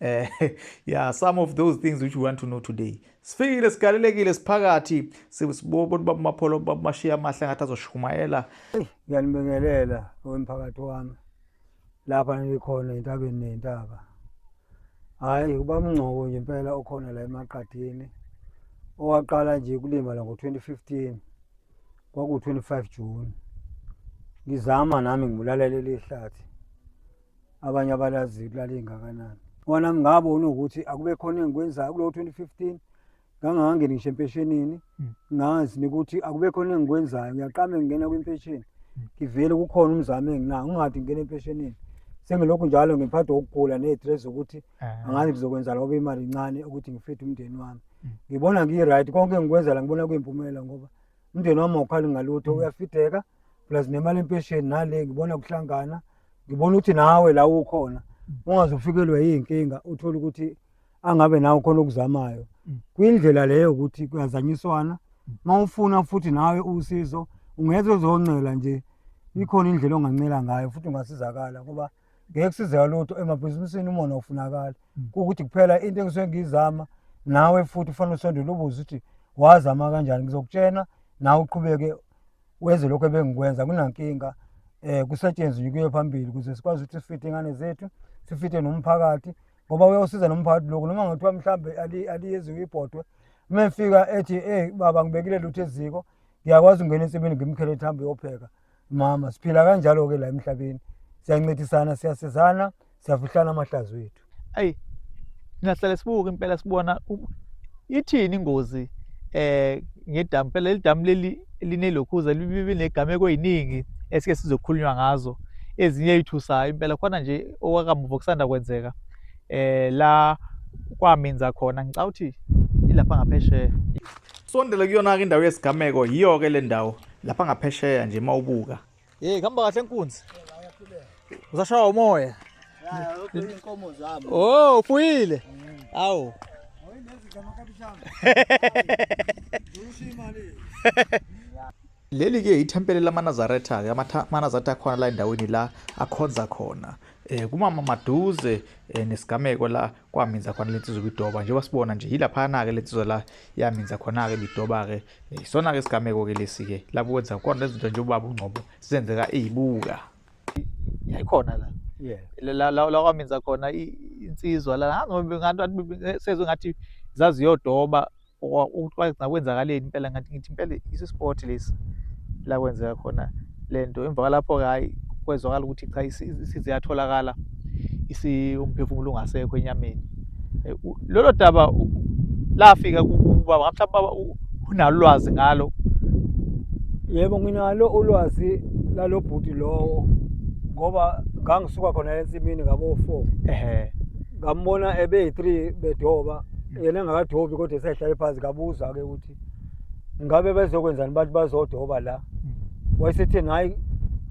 Eh, yeah, some of those things which we want to know today. Sifikile sigalelekile siphakathi sibona baba mapholo baba mashiya amahle ngathi azoshumayela. Ngiyanibingelela wemphakathi wami. Lapha ngikhona entabeni nentaba. Hayi kuba mngcobo nje impela okhona la emaqadini. Owaqala nje kulima la ngo-2015 kwaku-25 June. Ngizama nami ngibulalele lihlathi. abanye abalazi kulala ingakanani wona ngingabona ukuthi akube khona engikwenzayo kulowo 2015 ngangangangeni ngisho empeshenini hmm. ngazi nokuthi akube khona engikwenzayo ngiyaqame ngingena kwimpesheni hmm. ngivele kukhona umzamo enginawo ngingade ngingena empeshenini sengilokhu njalo ngiphathwa ukugula ney'threat zokuthi eh. angazi ngizokwenza loba imali incane ukuthi ngifithe umndeni wami hmm. ngibona ngiyi-right konke engikwenza la ngibona kuyimpumelelo ngoba umndeni wami awukhali ngalutho uyafideka plus nemali empesheni nale ngibona kuhlangana mm. ngibona ukuthi nawe la ukhona mm. ungazofikelwa yiy'nkinga uthole ukuthi angabe nawe khona okuzamayo mm. kwindlela leyo ukuthi kuyazanyiswana uma mm. ufuna futhi nawe usizo ungeze uzoncela nje ikhona indlela ongancela ngayo futhi ungasizakala ngoba ngeke kusizeka lutho emabhizinisini umona ufunakala kuwukuthi kuphela into engisuke ngiyizama nawe futhi ufanele usondele ubuze ukuthi wazama kanjani ngizokutshena nawe uqhubeke wenze lokho ebengikwenza kunankinga eh kusetshenzwe kuye phambili ukuze sikwazi ukuthi sifite ingane zethu sifite nomphakathi ngoba uyawusiza nomphakathi lokho noma ngathiwa mhlambe aliyeziwe ibhodwe uma efika ethi ey baba ngibekile lutho eziko ngiyakwazi ukungena ensimini ngimkhele ethi hambe uyopheka mama siphila kanjalo-ke la emhlabeni siyancedisana siyasizana siyafihlana amahlazo ethu ayi ngingahlale sibuke impela sibona u- ithini ingozi eh ngedamu phela leli damu leli linelokhuza libe negameku eziningi esike sizokhulunywa ngazo ezinye ezithusayo impela khona nje okwakamuva kusanda kwenzeka eh la kwaminza khona ngicabanga ukuthi ilapha ngaphesheya Sondele kuyona-ke indawo yesigameko yiyo-ke le ndawo lapha ngaphesheya nje uma ubuka Hey, kamba kahle nkunzi. Uzashaya umoya. Inkomo zami. Oh, ufuyile. Awu. Leli ke ithempeli lamaNazaretha, amaNazaretha akhona la endaweni la akhonza khona. Eh kumama maduze eh, nesigameko la kwaminza khona le nsizwa ibidoba njengoba sibona nje yilaphana-ke le nsizwa la yaminza khona-ke ibidoba-ke eh, isona-ke isigameko-ke lesi-ke lapho kwenza khona lezinto nje ubaba ungcobo zenzeka eyibuka yayikhona la la la la kwaminza khona insizwa la ngathi sezwe ngathi zaziyodoba Ukuxwayisa kwenzakaleni impela ngathi ngithi impela isu sport lesi la kwenzeka khona lento emva kwalapho ke hayi kwezwakala ukuthi cha isize yatholakala isi umphefumulo ungasekho enyameni eh, lolo daba lafika kubaba mhlawumbe baba unalo lwazi ngalo yebo nginalo ulwazi lalo bhuti lowo ngoba ngangisuka khona ensimini ngabo-four ehe ngambona ebe-three bedoba yena engakadobi kodwa esehlale phansi kabuza ke ukuthi ngabe bezokwenzani abantu bazodoba la mm. wayesethi hayi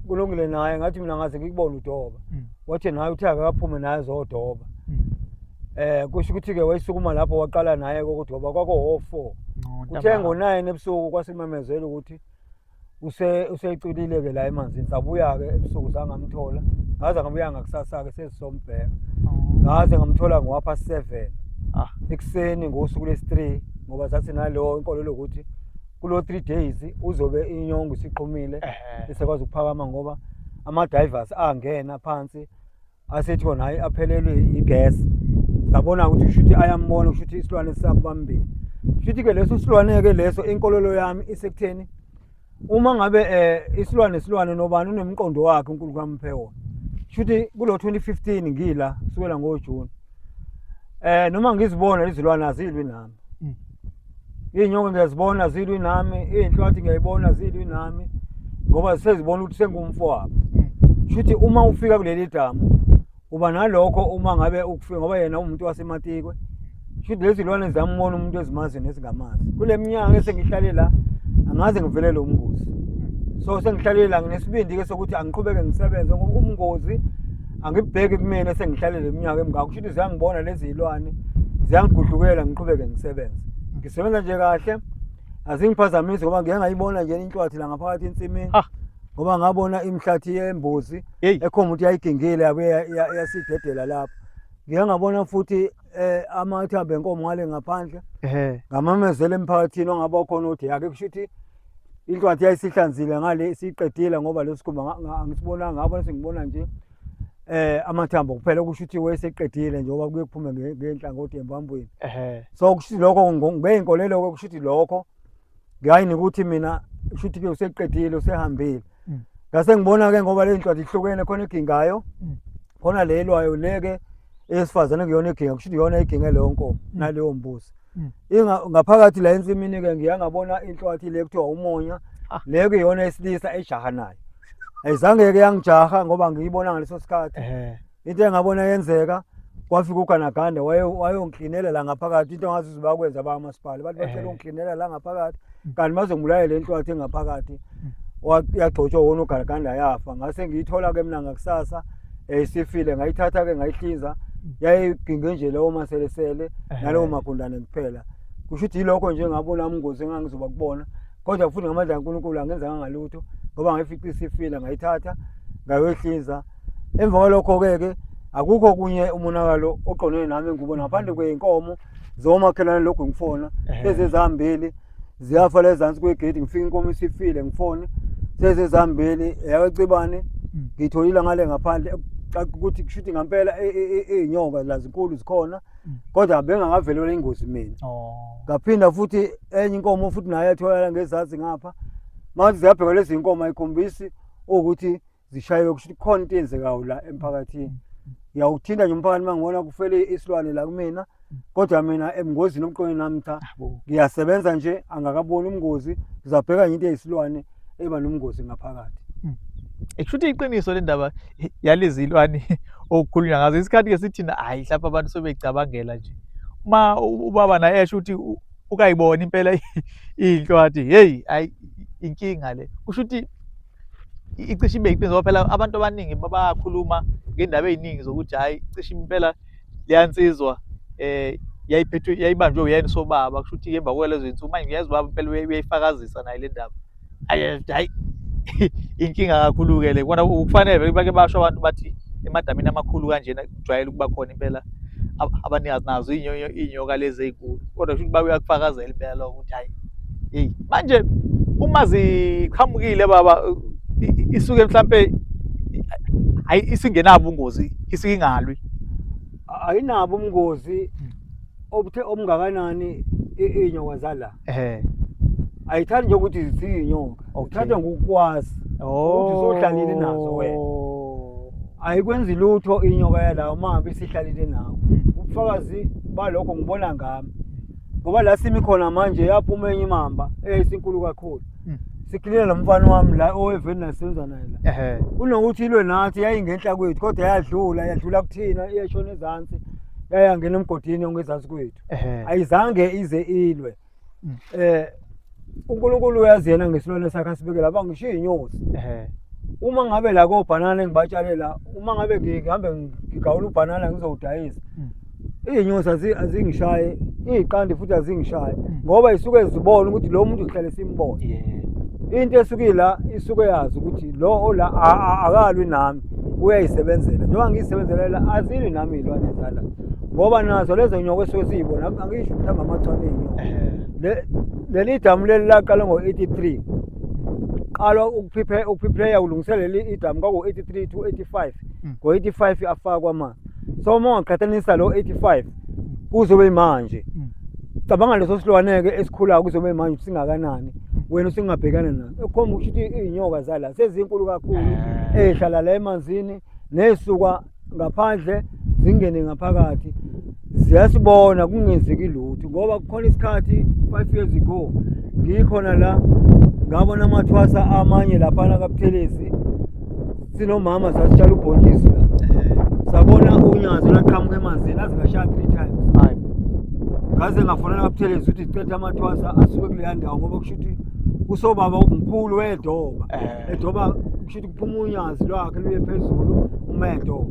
kulungile naye ngathi mina ngaze ngikubona udoba mm. wathi naye uthe akaphume naye zodoba mm. eh kusho ukuthi ke wayisukuma lapho waqala naye kokudoba kwako ho 4 uthe ngo 9 ebusuku kwasimemezela ukuthi use useculile ke la emanzini sabuya ke ebusuku sangamthola ngaze ngabuya ngakusasa ke sezisombheka ngaze ngamthola ngowapha 7 ah ekuseni ngosuku lesi 3 ngoba sathi nalo inkolo lokuthi kulo 3 days uzobe inyongo isiqhumile esekwazi ukuphakama ngoba ama divers angena phansi asethi kona hayi aphelelwe igesi sabona ukuthi shuthi ayambona kushuthi isilwane sisabambile shuthi ke leso silwane ke leso inkolelo yami isekutheni uma ngabe eh isilwane silwane nobani unemqondo wakhe uNkulunkulu kamphe wona shuthi kulo 2015 ngila kusukela ngoJune eh noma ngizibona izilwane azilwi nami Iy'nyoka ngiyazibona zilwi nami, iy'nhlwathi ngiyayibona zilwi nami ngoba sezibona ukuthi sengumfowabo. Shuthi uma ufika kuleli damu uba nalokho uma ngabe ukufika ngoba yena umuntu wasematikwe. Shuthi lezi lwane ziyambona umuntu ezimazi nezingamazi. Kule minyaka esengihlale la angaze ngivelele umngozi. So sengihlalele la nginesibindi-ke sokuthi angiqhubeke ngisebenze ngoba umngozi angibheki kumina sengihlalele iminyaka emngaka kusho ukuthi ziyangibona lezi zilwane ziyangigudlukela ngiqhubeke ngisebenze ngisebenza nje kahle azingiphazamisi ngoba ngike ngayibona nje inhlwathi la ngaphakathi ensimini ah. ngoba ngabona imihlathi yembuzi ekhomba ukuthi yayigingile yabuye yasidedela lapho ngike ngabona futhi eh amathambo enkomo ngale ngaphandle ngamamezela emphakathini ongabe okhona ukuthi yake kusho ukuthi Inhlwathi yayisihlanzile ngale siqedile ngoba lesi sikhumba angisibonanga ngabona sengibona nje eh amathambo kuphela okusho ukuthi wayeseqedile nje oba kuye kuphume ngenhlangothi embambweni ehe so kusho lokho ngeyinkolelo okusho ukuthi lokho ngiyayini ukuthi mina kusho ukuthi ke useqedile usehambile mm. ngase mm. ngibona ke ngoba le ncwadi ihlukene khona igingayo mm. khona le elwayo le ke esifazane kuyona iginga kusho iyona iginga leyo nkomo mm. naleyo mbuzi mm. inga ngaphakathi la ensimini ke ngiyangabona inhlwathi le kuthiwa umonya ah. le ke iyona esilisa ejaha nayo ayizange ke yangijaha ngoba ngiyibona ngaleso sikhathi into engabona yenzeka kwafika uganaganda wayongiklinela la ngaphakathi into ngazi ukuthi bakwenza abamasipala bathi bacela eh. ungiklinela la ngaphakathi mm. kanti bazongibulalela inhlwathi engaphakathi mm. yagcotshwa wona uganaganda yafa ngase ngiyithola-ke mina ngakusasa um isifile ngayithatha-ke ngayihlinza mm. yayiginge nje lewo maselesele eh. nalowo magundane kuphela kusho ukuthi yilokho nje ngabona umngozi engangizoba kubona kodwa futhi ngamandla kankulunkulu angenzanga ngalutho ngoba ngayifica isifile ngayithatha ngayoyihlinza emva kwalokho-ke ke akukho kunye umonakalo oqondene nami engikubona ngaphandle kwey'nkomo zomakhelwane lokhu ngifona ezezihambeli ziyafa lezansi kwegedi ngifika inkomo isifile ngifone sezezihambeli eyakacibane hmm. ngitholile ngale ngaphandle ukuthi kushuthi ngampela e, e, e, iy'nyoka lazinkulu zikhona hmm. kodwa bengakavelelwa ingozi mina oh. ngaphinda futhi enye inkomo futhi nayo yatholakala ngezansi ngapha manje ziyabheka lezi y'nkomo ayikhombisi ukuthi zishaywe ukuthi khona into eyenzekayo la emphakathini ngiyawuthinta nje umphakathi uma ngibona kufele isilwane la kumina kodwa mina emngozini omqondo nami cha ngiyasebenza nje angakaboni umngozi ngizabheka nje into eyisilwane eba nomngozi ngaphakathi hmm. ekushuthi iqiniso le ndaba yalezilwane okukhulunywa ngazo isikhathi ke sithina hayi mhlawumbe abantu sebecabangela nje uma ubaba naye esho ukuthi ukayibona impela inhlwathi heyi hayi inkinga le kusho ukuthi icishe ibe iqiniso ngoba phela abantu abaningi bayakhuluma ngendaba eziningi zokuthi hayi cishe impela leyansizwa eh yayiphethwe yayibanjwe uyena sobaba kusho ukuthi emva kwalezo zinsuku manje ngiyazi ubaba impela uyayifakazisa naye le ndaba hayi inkinga kakhulu-ke le kona kufanele bake basho abantu bathi emadamini amakhulu kanjena kujwayele ukuba khona impela abanikazi nazo iy'nyoka lezi ey'nkulu kodwa kusho ukuthi babuye bakufakazela impela lokho ukuthi hhayi yeyi manje uma ziqhamukile baba isuke mhlampe hayi isingenabo ubungozi isuke ingalwi ayinabo ubungozi obuthe obungakanani iy'nyoka zala ehe ayithandi nje ukuthi ziyinyoka uthatha ngokukwazi ukuthi sohlalile nazo wena oh. ayikwenzi lutho inyoka yalawo mahambe isihlalile nawo ubufakazi balokho ngibona ngami ngoba la simi khona manje yaphuma enye imamba eyayisinkulu kakhulu hmm. sikhilela lo mfana wami la oweveni nasenza naye la kunokuthi ilwe nathi yayingenhla kwethu kodwa yadlula yadlula kuthina iyashona ezansi yayangena emgodini ongezansi kwethu Ehhe. ayizange ize ilwe Mm. eh uNkulunkulu uyazi yena ngesilwane sakhe asibekela ba ngisho inyosi Ehhe. uma ngabe la kobhanana engibatshale la uma ngabe ngihambe ngigawula ubhanana ngizowudayisa Mm. iy'nyosi azi- azingishaye iy'qandi futhi azingishaye Mm. ngoba isuke zibona ukuthi lo muntu uhlale simbona Yebo. into esuke ila isuke yazi ukuthi lo ola a- a- akalwi nami uyayisebenzela njengoba ngiyisebenzela la azilwi nami iy'lwane zala ngoba nazo lezo nyoka esuke siyibona angisho ukuthi hamba amachwane enyoka Le- leli damu leli laqala ngo-83 qalwa ukuphiphe- ukuphiphileya kulungiseleli idamu kwaku-83 to 85 Mm. ngo-85 afakwa amanzi so uma ungaqhathanisa lo 85 kuzobe imanje Mm. cabanga leso silwane-ke esikhulayo kuzobe imanje ukuthi singakanani wena usingabhekana naso ekhomba ukusho ukuthi iy'nyoka zala sezinkulu kakhulu Eh. ey'hlala la emanzini ney'suka ngaphandle zingene ngaphakathi ziyasibona kungenzeki lutho ngoba kukhona isikhathi five years ago ngikhona la ngabona amathwasa amanye laphana kabuthelezi sinomama sasitshala ubhontshisi la sabona unyazi laqhamuka emanzini aze lashaya three times hayi ngaze ngafonela kabuthelezi ukuthi cetha amathwasa asuke kuleya ndawo ngoba kusho ukuthi usobaba umkhulu wedoba edoba kusho ukuthi phuma unyazi lwakhe luye phezulu umehlo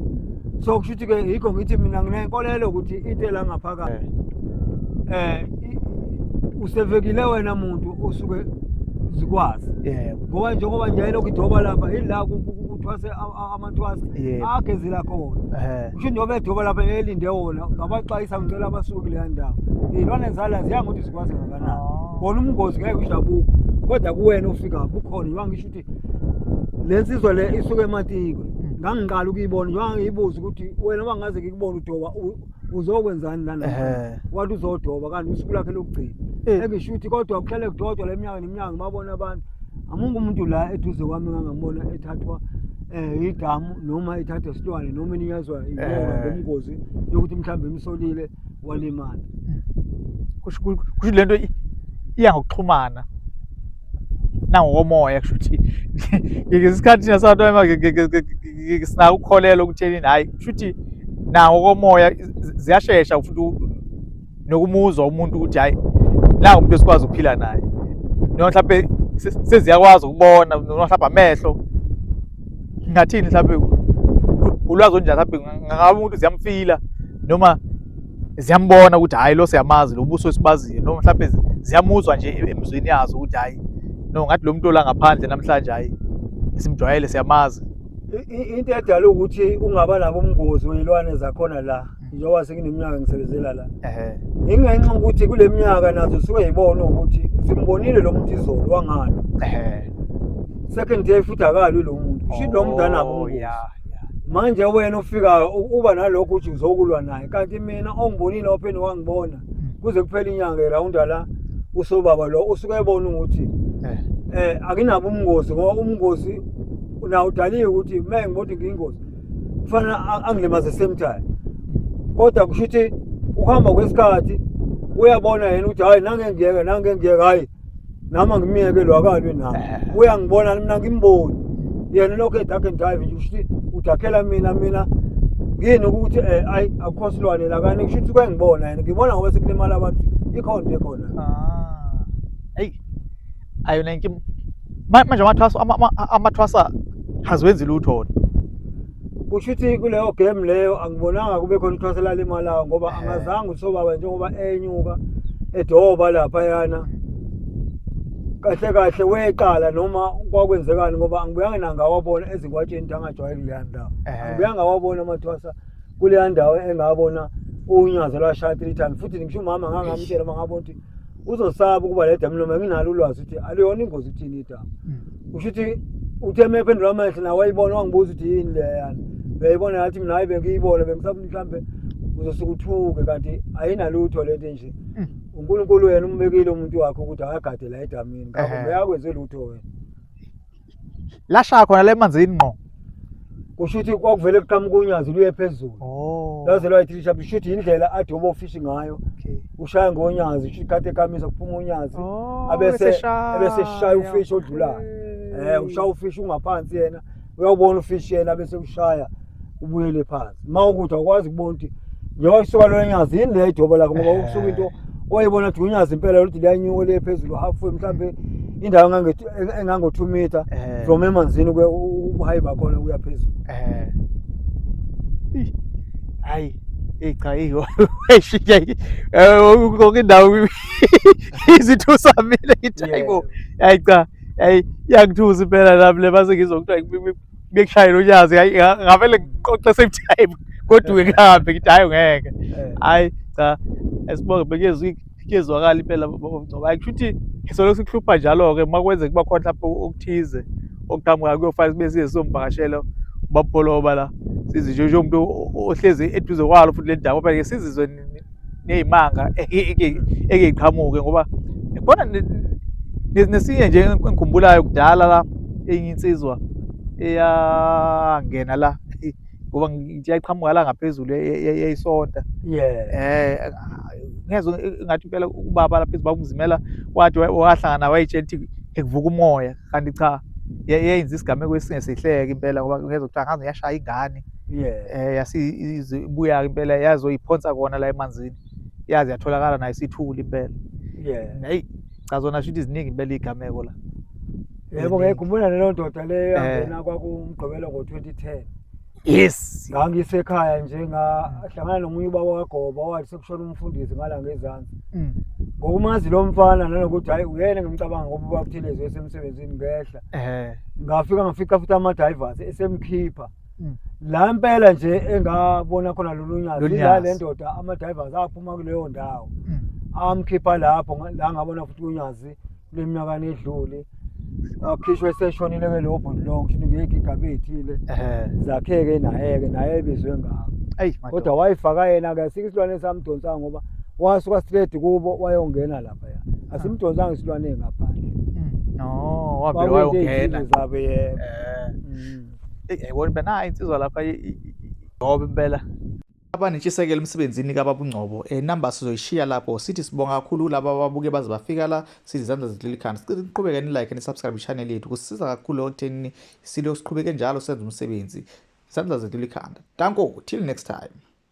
so kusho ukuthi-ke yikho ngithi mina nginenkolelo ukuthi into elangaphakathi um eh. eh, usevekile wena muntu osuke zikwazi ngoba njengoba nje ayelokhu idoba lapha yila kuthwase amathwase agezela khona eh. kusho njengoba edoba lapha elinde wona ngabaxwayisa ngicela abasuke kuleya ndawo iy'lwane zala ziyangokuthi zikwazi ngakanani oh. kona umngozi ngeke usho abukho kodwa kuwena ofika bukhona iwangisho ukuthi le nsizwa le isuke ematiko ngangiqala ukuyibona njengoba ngiyibuza ukuthi wena uba ngaze ngikubona udoba uzokwenzani lana wathi uzodoba kanti usuku lakhe lokugcina eh. engisho ukuthi kodwa kuhlale kudodwa le mnyaka neminyaka ngibabona abantu amungu umuntu la eduze kwami ngangambona ethathwa um yidamu noma ethatha isilwane noma ininyazwa eh. ngomngozi yokuthi mhlawumbe imsolile walimala kusho ukuthi lento iya ngokuxhumana nangokomoya kusho ukuthi ngesikhathi thina sabantu sinako ukukholelwa ukuthenini hhayi kusho ukuthi nawo komoya ziyashesha futhi nokumuzwa umuntu ukuthi hhayi la umuntu esikwazi ukuphila naye noma mhlawumbe seziyakwazi ukubona noma mhlawumbe amehlo ngathini mhlawumbe ulwazi olunjani mhlawumbe ngaba umuntu ziyamfila noma ziyambona ukuthi hhayi lo siyamazi lo buso esibaziyo noma mhlawumbe ziyamuzwa nje emzweni yazo ukuthi hhayi no ngathi lo muntu olangaphandle namhlanje hhayi simjwayele siyamazi into edala ukuthi ungaba nabo umngozi weyilwane zakhona la njengoba sengineminyaka ngisebenzela la ehe ingenxa ukuthi kule minyaka nazo suke yibona ukuthi simbonile lo muntu izolo wangani ehe second day futhi akalwi lo muntu kusho ukuthi lo muntu anabo Oh, ubungozi. ya, ya. manje wena ofikayo u- uba nalokho uthi uzokulwa naye kanti mina ongibonile opheni wangibona kuze kuphele inyanga erawunda la usobaba lo usuke ebona ukuthi Eh, eh akinabo ubungozi ngoba ubungozi nawo udaliwe ukuthi uma ngibona ukuthi ngiyingozi kufanele angilimaze same time kodwa kusho ukuthi ukuhamba kwesikhathi uyabona yena ukuthi hhayi nangengiyeke nangengiyeke hhayi nami angimiyeke lo akalwi nami eh. uyangibona mina ngimboni yena lokho edark and drive nje kusho ukuthi udakhela mina mina ngini ukuthi um eh, ayi akukho silwane la kani kusho ukuthi kwengibona yena ngibona ngoba sekulimala abantu ikhonto ekhona ah. ayo nenki manje amathwasa amathwasa haziwenzi lutho kusho ukuthi kuleyo game leyo angibonanga kube khona ithwasa lalimalayo ngoba eh. angazange usobaba njengoba enyuka edoba lapha yana kahle kahle weqala noma kwakwenzekani ngoba angibuyanga nangawabona ezinkwatsheni angajwayele kuleya ndawo eh. angibuyanga wabona amathwasa kuleya ndawo engabona unyazo lwashaya three times futhi ngisho umama ngangamtshela uma ngabona ukuthi uzosaba ukuba le damu noma nginalo ulwazi ukuthi aluyona ingozi kuthini idamu hmm. usho ukuthi uthe uma ephendula amehlo nawe wayibona wangibuza ukuthi yini leyana uyayibona ngathi mina hayi bengiyibona bengisafuna mhlawumbe uzosuke uthuke kanti ayinalutho le nto nje hmm. unkulunkulu wena umbekile umuntu wakhe ukuthi akagade la edamini ngakho uyakwenze lutho wena lashaya khona le manzini ngqo kusho ukuthi kwakuvele kuqhamuka unyazi luye phezulu oh. laze lwayithilisha kusho ukuthi yindlela athi obo fishi ngayo ushaya ngonyazi kusho ikhathi ekamisa kuphuma unyazi oh, abese ebese shaya ufishi odlulayo eh ushaya ufishi ungaphansi yena uyawubona ufishi yena bese ushaya ubuyele phansi uma ukuthi awukwazi ukubona ukuthi njengoba kusuka lona nyazi yini le idobo lakho ngoba eh. kusuka into oyibona ukuthi unyazi impela lokuthi liyanyuka liye phezulu halfway mhlawumbe indawo engango-two meter eh. from emanzini ubuhayi bakhona kuya phezulu eh. hayi eyi cha eyishintsha konke indawo izithusa mina ngithi hayi bo hayi cha hayi iyangithusa impela nami le mase ngizokuthiwa bekushayela unyazi ngavele ngiqoqe same time kodwa kuhambe ngithi hayi ngeke eh. hayi cha esibonge bekezwe kuyezwakala impela bomgcobo hayi kushuthi isolo sikuhlupha njalo ke makwenzeka kuba khona lapho okuthize okuqhamuka kuyofana sibe size somvakashela bapholoba la sizi nje umuntu ohlezi eduze kwalo futhi le ndawo phela sizizwe neyimanga eke iqhamuke ngoba khona nesinye nje engikhumbulayo kudala la enye insizwa eyangena la ngoba ngithi yayiqhamuka la ngaphezulu yayisonta eh ngezwe ngathi impela ubaba lapha ezibaba umzimela wathi wahlangana nawe wayitshela ukuthi ekuvuka umoya kanti cha yenza isigameko esingesihleke impela ngoba ngezwe kuthiwa ngaze yashaya ingane eh yasibuya impela yazoyiphonsa kona la emanzini yazi yatholakala nayo isithuli impela hayi cha zona shithi ziningi impela iy'gameko la yebo ngiyayikhumbula leyo ndoda leyo yangena kwakumgqibelo ngo-2010 yes ngangisekhaya nje ngahlangana nomunye ubaba wagoba wathi sekushona umfundisi ngala ngezansi mm. ngokumazi lo mfana nanokuthi hhayi uyena ngimcabanga ngoba ubabuthelezi esemsebenzini ngehla ngafika ngafica futhi ama-drivers esemkhipha Mm. la impela nje engabona khona lolu nyazi Lolu ila nyazi. le ndoda ama-divers aphuma kuleyo ndawo Mm. amkhipha lapho nga- la ngabona futhi unyazi kule minyakana edlule akhishwe eseshonile ke lowo bhuti lowo kusho ukuthi ngeke igabe ey'thile Ehhe. zakhe-ke naye-ke naye ebizwe ngako Eyi, madoda. kodwa wayifaka yena-ke asike isilwane esamdonsanga ngoba wasuka straight kubo wayongena laphaya asimdonsanga isilwane ngaphandle Mm. No, wavele Kwakuyinto wayongena. ey'thile zabo yebo Eh. Mm. eyi yayibona impela nayi insizwa lapha ngoba impela abanentshisekelo emsebenzini kababungcobo um eh, number sizoyishiya lapho sithi sibonga kakhulu kulaba ababuke baze bafika la sithi izandla zidlula ikhanda sicela niqhubeke nilike nisubscribe i-channel yethu kusisiza kakhulu ekuthenini silokhu siqhubeke njalo senza umsebenzi izandla zidlula ikhanda danko till next time